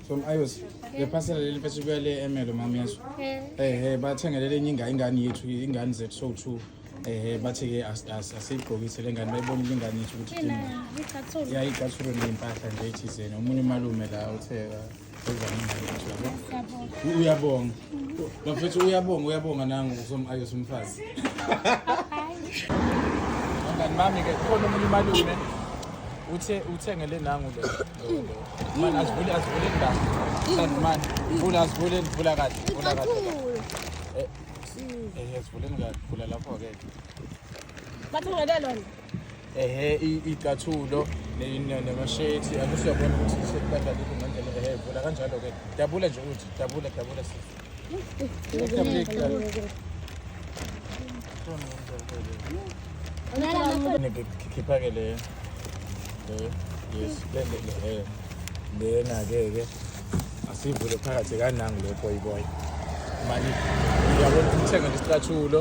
from ios lephasela leli mfethu kuya le emelo mama yesu ehe bathengele lenye ingane ingane yethu ingane zethu so two ehe bathi-ke asiyigqokise le ngane bayibonile ingane yethu ukuthi yayicathulwe ney'mpahla nje ethizeni omunye umalume la uthe uyabonga bafethu uyabonga uyabonga nangu usomayo somfazi angani mami-ke khona omunye umalume uthe uthengele nangu le Man asivule asivule ndawo. Kanti man vula asivule vula kahle vula kahle. Eh eh asivule kahle vula lapho ke. Bathi ngale lona. Ehhe icathulo nemashethi akusiyabona ukuthi sekubadlalile ngendlela ehhe vula kanjalo ke. Dabula nje ukuthi dabula dabula sisi. Ngikhipha-ke le yes le le le lena-ke ke asivule phakathi kanangi le boyiboyi mani uyabona ukuthi uthenga nje isicathulo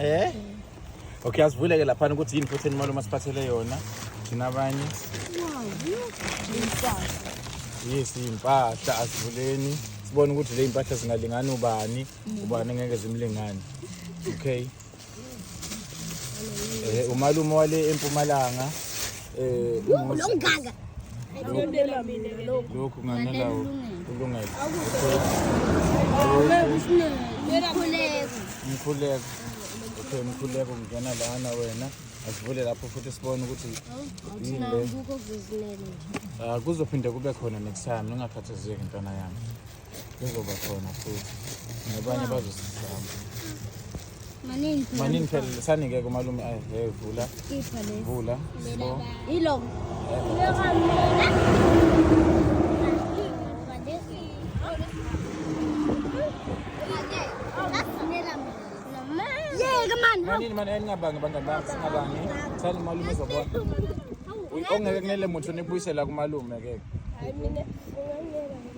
eh okay asivuleke laphana ukuthi yini futhi imali uma siphathele yona thina abanye yes impahla asivuleni sibone ukuthi le impahla zingalingani ubani ubani ngeke zimlingani okay eh umalume wale empumalanga eh longaka ngiyondela mina ke lokho lokho nganela ulungele mkhuleko okay mkhuleko ngena lana wena asivule lapho futhi sibone ukuthi yini le ah kuzophinde kube khona next time ungakhathazeki ntwana yami Kuzoba khona futhi. Nabanye bazosizama. Manini. Manini phela lisanike kumalume ayi hey vula. Ipha le. Vula. Sbo. Ilo. Ilo kamina. Yeka man. Manini man engabangi bangani bami singabangi. Sani malume zobona. Ongeke kunele muntu nibuyisela kumalume ke. Hayi mina.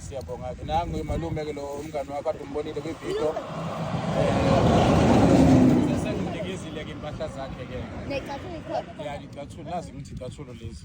siyabonga ke nangu malume ke lo umngane wakho kade umbonile kwividiyo sengimnikizile ke impahla zakhe ke necathulo ikhona ya licathulo nazi ukuthi icathulo lezi